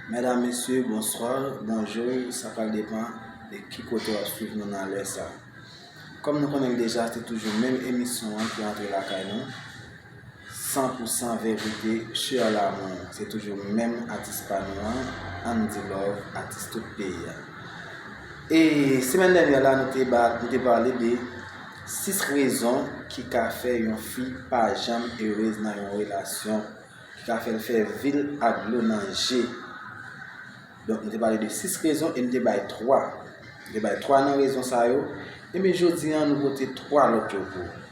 Medam mesye bonswa, bonjou, sa pral depan de ki kote wap swiv nou nan lè sa. Kòm nou konnen deja se toujou menm emisyon an ki antre lakay nou, 100 pou 100 verite chè a lanmou. Se toujou menm atis pa nou an, Andy Love, atis tout peyi a. E semèn dènyè la nou te pale de 6 rezon ki ka fè yon fi pa janm erez nan yon relasyon, ki ka fè l fè vi l ak dlo nan je. Donk nou te pale de 6 rezon e nou te bay 3. Nou te bay 3 nan rezon sa yo. Enben jodi an nou pote 3 lòt yo pou ou.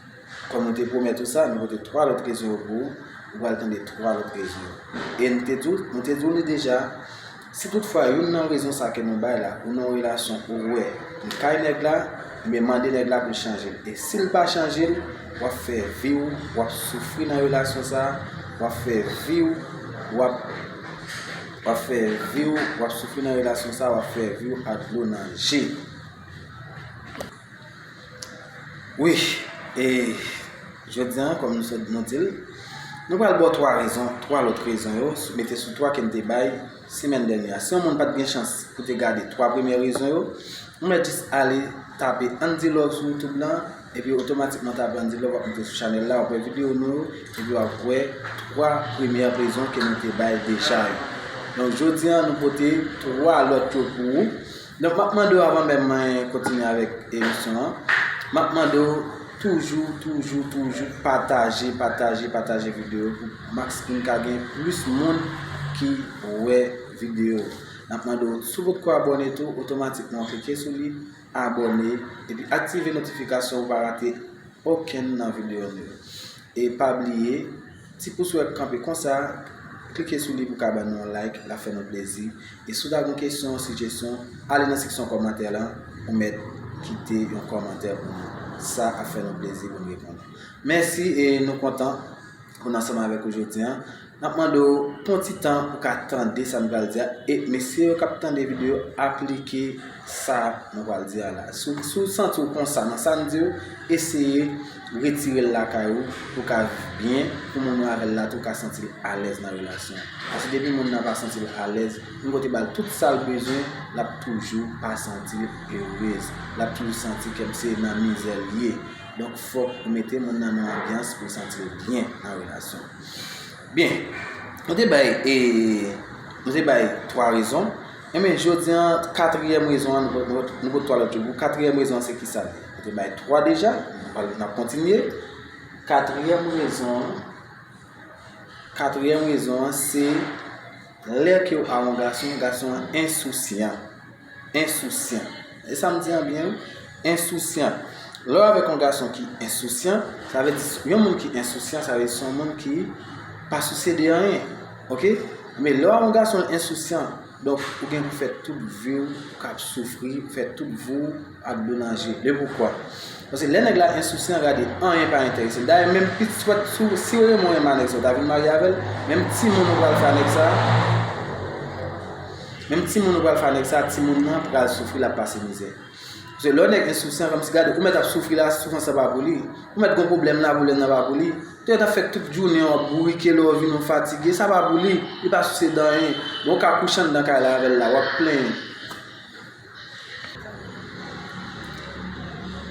Kòm nou te pwomèt ou sa, nou pote 3 lòt rezon yo pou ou. Ou pral tande 3 lòt rezon yo. E nou te di w li deja. Si tout fwa youn nan rezon sa ke nou bay la ou nan yon relasyon ou wè li kay nèg la, ebyen mande nèg la poul chanjel e sil pa chanjel wap fè viw wap soufri nan relasyon sa wap fè viw wap wap fè viw wap soufri nan relasyon sa wap fè viw ak dlo nan je. Wi, e jodi an kòm nou sot nou di l, nou pral ba w 3 rezon, 3 lòt rezon yo, mete sou 3 ke n te bay semèn dènyè a. Si yon moun pa t gen chans pou te gade 3 premye rezon yo, ou mèt jis ale tape Andy Love sou YouTube lan, epi otomatikman tape Andy Love w ap rive sou chanèl la, w ap wè videyo nou yo, epi w ap wè 3 premye rezon ke nou te bay deja yo. Donk jodi an nou pote 3 lòt yo pou ou. Donk map mande w avan menm mwen kontinye avèk emisyon an, map mande w toujou, toujou, toujou pataje, pataje, pataje videyo yo pou max poun ka gen plis moun ki wè videyo yo. Nap mande w si w potko abòne tou otomatikman klike sou li, abòne epi aktive notifikasyon pou w pa rate okenn nan videyo nou yo. E pa bliye Ti pous wè k kanpe konsa, klike sou li pou ka ban nou yon like, l ap fè nou plezi. E si w ta gen yon kesyon, sijesyon, ale nan seksyon kòmantè lan, ou mèt kite yon kòmantè pou nou. Sa ap fè nou plezi pou n reponn ou. Mèsi e nou kontan pou n ansanm avèk ou jodi an. N ap mande w, pran w ti tan pou w ka tande sa n pral di a. E mesye yo k ap tande videyo a, aplike. Sa nou pral di a la. Si w santi w konsa nan sa n di w, eseye retire l lakay ou pou w ka viv byen, pou moun ou avè l la tou ka santi l alèz nan relasyon an. Paske depi moun nan pa santi l alèz, yon kote ba l tout sa l bezwen, l ap toujou pa santi l erez. L ap toujou santi kèm se nan mizè l ye. Donk fòk ou mete moun nan nan anbyans pou l santi l byen nan relasyon an. Byen, nou te bay e, nou te bay 3 rezon, enben jodi an katriyèm rezon an, nou pot 3 lòt yo pou, katriyèm rezon an se kisa? Nou te bay 3 deja, n ap kontinye, katriyèm rezon an, katriyèm rezon an se lè ke w a yon gason, gason an ensousyan. Ensousyan. E sa m di an byen wi. Ensousyan. Lè w avèk yon gason ki ensousyan, sa vle di yon moun ki ensousyan sa vle di se yon moun ki pa sousye de anyen. Ok? Men lè w avèk yon gason ensousyan, donk ou gen pou fè tout vi w kap soufri, fè tout vi w. ak donaje le poukwa paske lè nèg la ensousyan gade anyen pa enteresel dayè menm pit jwèt sou si remon renman nèg sa ou ta vin marye avèl menm timoun ou pral fè a nèg sa menm timoun ou pral fè a nèg sa timoun nan pral soufri lap pase mizè paske lè nèg ensousyan kòmsi gade ou mèt ap soufri la soufrans la pa pou li ou mèt gon pwoblèm la pwoblèm nan pa pou li lè tap fè tout jounen wap bourike lè ou vin ou fatige sa pa pou li li pa souse danyen bon ou ka kouche anndan kay la avèl la wap plenyen.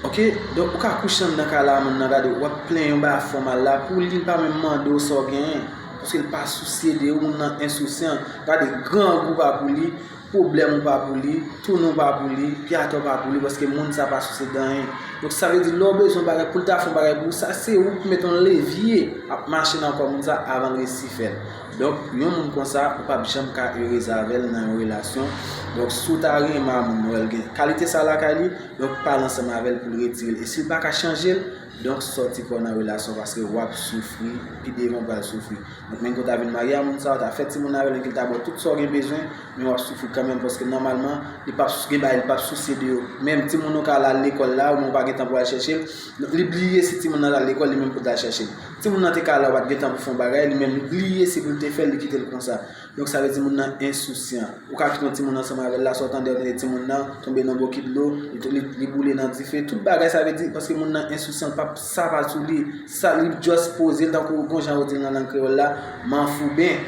Ok donk ou ka kouche anndan kay la moun nan gade w wap plen yon bagay fò mal la pou li pa menm mande w sa w genyen paske l pa sousye de ou moun nan ensousyan gade grangou pa pou li pwoblèm ou pa pou li toune w pa pou li pi atò w pa pou li paske moun sa pa sousye de anyen donk sa vle di lè w bezwen bagay pou l ta fè yon bagay pou ou sa se ou ki mete yon levye ap mache nan kò moun sa avan l resi fè l. Donk yon moun konsa ou pap janm ka erez avèl nan yon relasyon, donk si w ta renmen a moun wèl gen kalite sa lakay li, donk pale ansanm avèl poul retirel e sil paka chanjel, donk sòti kòw nan relasyon paske wap soufri pi devan ou pral soufri. Donk menm ke w ta vin marye a moun sa, ou ta fè timoun avèl epi li ta baw tout sa w gen bezwen, men wap soufri kanmenm paske nòmalman li pap gen bagay li pap sousye de yo. Menm timoun ou ka al lekòl la ou menm ou pa gen tan pou al chèchel, li bliye si timoun nan al lekòl li menm poul ta chèchel. Timoun nan te ka la pat gentan pou fon bagay li menm li bliye si poul te fèl li kitel konsa donk sa vle di moun nan ensousyan ou ka kite yon timoun ansanm avèl la sa ou tande ou tande timoun nan tonbe nan bokit dlo li boule nan dife tout bagay sa vle di paske moun nan ensousyan li pap sa pa sou li sa li just pozel tankou bon jan ou dil nan lang kreyòl la manfouben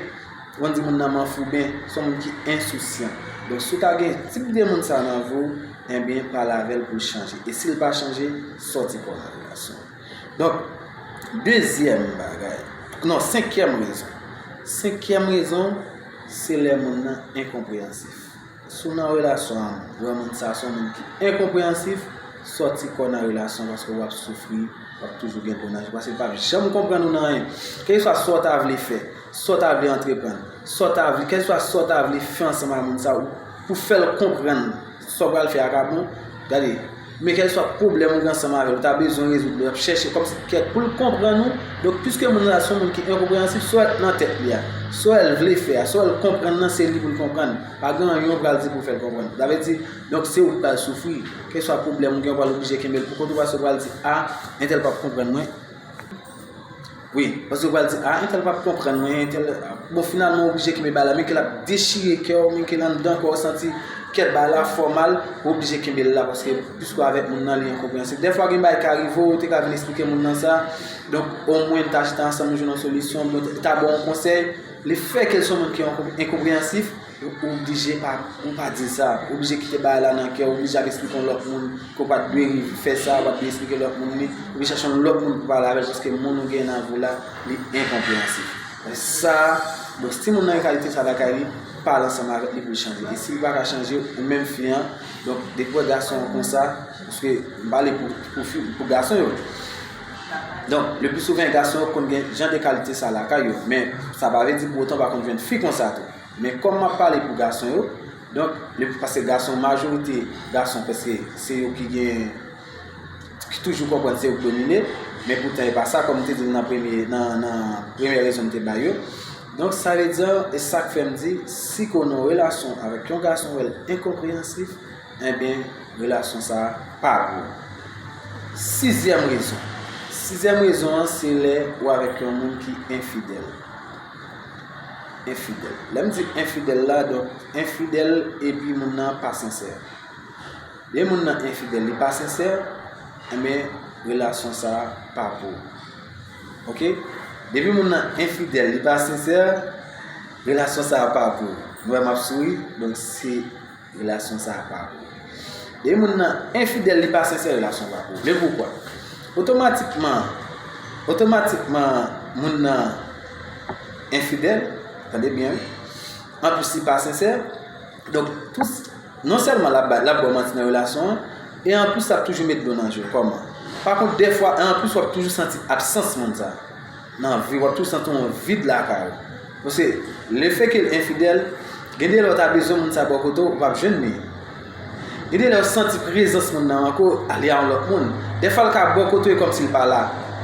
ou konn di moun nan manfouben son moun ki ensousyan donk si ou ta gen tip de moun sa nan vi ou enben pale avèl poul chanje e sil pa chanje sòti kò nan relasyon. Donk, dezyèm bagay, non, senkyèm rezon. Senkyèm rezon, se lè moun nan enkonpreyansif. Si w nan relasyon ak yon granmoun, sa se yon moun ki enkonpreyansif, sòti kò w nan relasyon paske w ap soufri, w ap toujou gen pou naj, paske l pap janm konprann ou nan anyen. Kèlkeswa sa w ta vle fè, sa w ta vle antreprann, sa w ta vle, kèlkeswa sa w ta vle fè ansanm ak moun sa a, pou fè l konprann sa w pral fè a ka bon, gade. Men kèlkeswa pwoblèm ou gen ansanm avè l, ou ta bezwen rezoud li, l ap chèche kòmsi kèk pou l konprann ou. Donk, piske moun la se yon moun ki enkonpreyansib, sa k nan tèt li a, sa l vle fè a, sa l konprann nan, se li pou l konprann. Pa gen anyen ou pral di pou fè l konprann. Sa vle di, donk se ou ki pral soufri. Kèlkeswa pwoblèm ou gen, ou pral oblije kenbe l pou kont ou paske ou pral di, A, entèl pap konprann mwen. Wi, paske yo pral di, ah entèl pap konprann mwen, entèl, bon finalman ou oblije kenbe bal la men ke lap dechire kè w, men ke anndan kò w santi kè bal la fè w mal, ou oblije kenbe l la paske piske w avèk moun nan li enkonprensib. Dèfwa gen bagay ki ka rive w, ou te ka vin esplike moun nan sa, donk omwen n ta chita ansanm nou jwenn yon solisyon, mwen ta ba w yon konsèy, le fè ke l son moun ki enkonpreyensif, Ou oblije pa, ou pa di sa. Ou oblije kite bagay la nan kè w, ou oblije al esplike yon lòt moun ke w pa t dwe rive fè sa, ou pa t dwe esplike lòt moun li, ou oblije chache yon lòt moun pou pale avè l paske moun ou genyen nan avè w la, li enkonpreyansif. Men sa, bon, si moun nan gen kalite sa lakay li, pale ansanm avè l pou l chanje. E si li pa ka chanje, ou menm fi an, donk depi w wè gason an konsa, paske m pale pou fi, pou gason yo. Donk, leplisouvan gason yo konn gen jan de kalite sa lakay yo, men sa pa vle di pou otan pa konn jwenn fi konsa tou. Men kòm map pale pou gason yo, donk le paske gason majorite gason paske se yo ki gen ki toujou konprann se yo ki domine, men poutan e pa sa kòm m te di w nan premye nan premye rezon m te bay yo. Donk sa vle di an, e sak fè m di si ke w nan yon relasyon avèk yon gason wè l enkonpreyansif, enben relasyon sa pa pou ou. Sizyèm rezon, sizyèm rezon an se lè ou avèk yon moun ki enfidèl. Enfidèl. Lè m di enfidèl la, donk enfidèl epi moun nan pa sensè. Lè moun nan enfidèl, li pa sensè, enben eh relasyon sa pa vo. Ok? Depi moun nan enfidèl, li pa sensè, relasyon sa pa vo. Mwen m ap souri, donk se... Relasyon sa a pa pou ou. Depi moun nan enfidèl, li pa sensè, relasyon pa pou ou. Men poukwa? Otomatikman, otomatikman moun nan enfidèl, tande byen wi, anplis li pa sensè, donk tout, non sèlman l ap bò manti nan relasyon an, e anplis l ap toujou met dlo nan je l. Kòman? Pa kont defwa, e anplis w ap toujou santi absans moun sa a. Nan vi w ap toujou santi yon vid lakay ou. Paske le fè ke l enfidèl, gen de lè ou ta bezwen moun sa bò kote w, ou pa p jwenn li. Gen de lè ou santi prezans moun nan manke w, li a yon lòt moun. Dèfwa l ka bò kote w e kòmsi l pa la.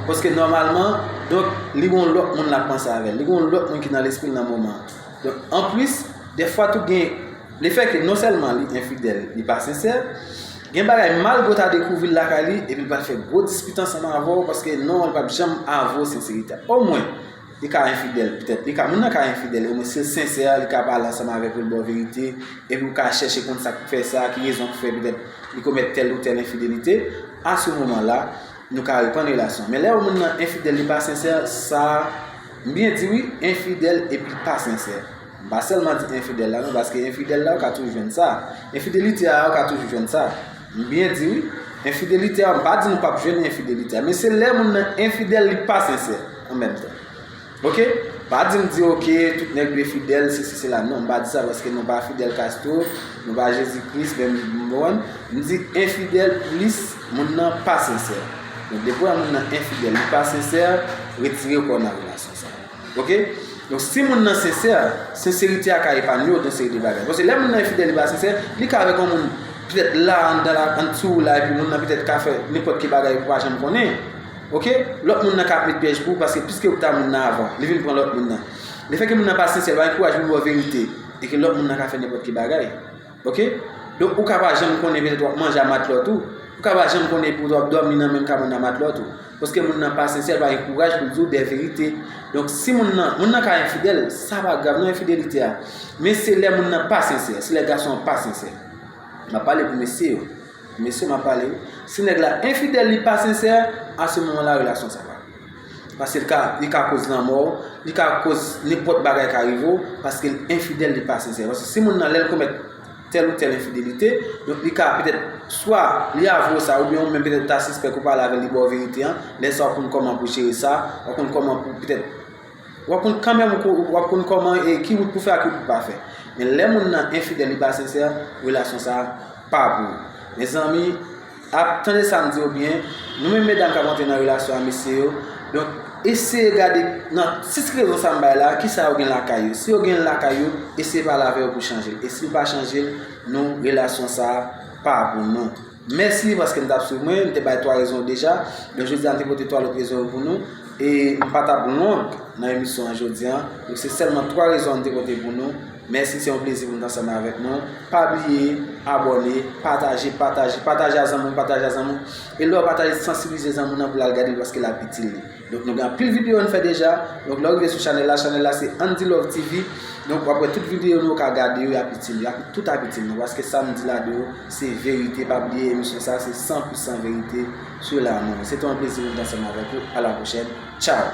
Paske nòmalman, donk, li gen yon lòt moun l ap panse avè l. Li gen yon lòt moun ki nan lespri l nan moman an. Donk, anplis, dèfwa tou gen. Le fè ke non sèlman li enfidèl, li pa sensè, gen bagay malgre w ta dekouvri l lakay li epi l pa fè gwo dispit ansanm avè w paske non li pap janm avwe w senserite a. Omwen, li ka enfidèl, petèt li ka moun nan ka enfidèl omwen si l sensè li ka pale ansanm avè w pou l ba w verite epi w ka chèche konn sa k fè sa, ki rezon ki fè petèt li komèt tèl ou tèl enfidelite, a se moman la nou ka reprann relasyon an. Men lè yon moun nan enfidèl li pa sensè, sa, m byen di wi, enfidèl epi pa sensè. M pa sèlman di enfidèl la non paske enfidèl la ou ka toujou jwenn sa. Enfidelite a ou ka toujou jwenn sa. M byen di wi. Enfidelite a m pa di nou pap jwenn enfidelite a men se lè moun nan enfidèl li pa sensè an menm tan. Ok? Pa di m di ok tout nèg dwe fidèl sesi sela non m pa di sa paske nou pa Fidel Castro, nou pa Jezi Kris menm mwen m di enfidèl plis moun nan pa sensè. Donk depi w wè moun nan enfidèl li pa sensè, retire w kò w nan relasyon sa. Ok Donk si moun nan sensè, senserite a ka epanye w yon seri de bagay. Paske lè moun nan enfidèl, li pa sensè, li ka avèk yon moun petèt la anndan la, andetou w la, epi moun nan petèt ka fè nenpòt ki bagay ou pa janm konnen. Ok Lòt moun nan ka ap met pyèj pou ou paske piske ou ta moun nan avan, li vin pran lòt moun nan. Lefètke moun nan pa sensè, li pa gen kouraj pou l di w verite, e ke lòt moun nan ka fè nenpòt ki bagay. Ok Donk ou ka pa janm konnen petèt wap manje a matlòt ou Ou ka pa janm konnen petèt wap dòmi nan menm kabann a matlòt ou Paske moun nan pa sensè, l pa gen kouraj pou l di w de verite Donk si moun nan, moun nan ka enfidèl, sa pa grav nan enfidelite a Men se lè moun nan pa sensè, se lè gason an pa sensè M ap pale pou mesye yo Mesye m ap pale wi Si nèg la enfidèl li pa sensè, a se moman la relasyon sa pa Paske li ka koz lanmò ou, li ka koz nenpòt bagay ka rive ou, paske li enfidèl, li pa sensè. Paske si moun nan lè l komèt tèl ou tèl enfidelite, donk li ka petèt, swa li avwe w sa, oubyen ou menm petèt ou ta sispèk ou pale avè l li ba w verite an, lè sa w konn kòman pou jere sa, ou konn kòman pou petèt. W ap konn kanmenm w ap konn kòman e ki wout pou fè ak ki wout pou pa fè. Men lè moun nan enfidèl li pa sensè, relasyon sa pa pou ou. Mezanmi, ap tande sa m di yo byen, nou menm medam k ap antre nan relasyon a mesye yo, donk eseye gade nan 6 rezon sa m bay la, ki sa yo gen lakay yo. Si yo gen l lakay yo, eseye pale avè yo pou chanje l. E si yo pa chanje l, nou relasyon sa pa pou nou. Mèsi paske n t ap swiv mwen. M te bay twa rezon yo deja, men jodi a m te pote twa lòt rezon yo pou nou. E m pa t ap long nan emisyon an jodi a. Donk se sèlman twa rezon an m te pote pou nou. Mèsi, se yon plezi pou m t ansanm avèk nou. Pa bliye abòne, pataje, pataje, pataje a zanmi w, pataje a zanmi w. E lè w pataje, sansibilize zanmi w nan pou l al gade l paske l ap itil li. Donk nou gen anpil video ann fè deja, donk lèw rive sou chanèl la, chanèl la se Andilove TV, donk wap wè tout video nou ka gade yo yap itil, yap tout ap itil nou, paske sam di la deyò se verite, pa bliye emisyon sa se 100 pou 100 verite sou lanmò. Se te yon plezi pou m t ansanm avèk ou, a la pwochèn, tchao.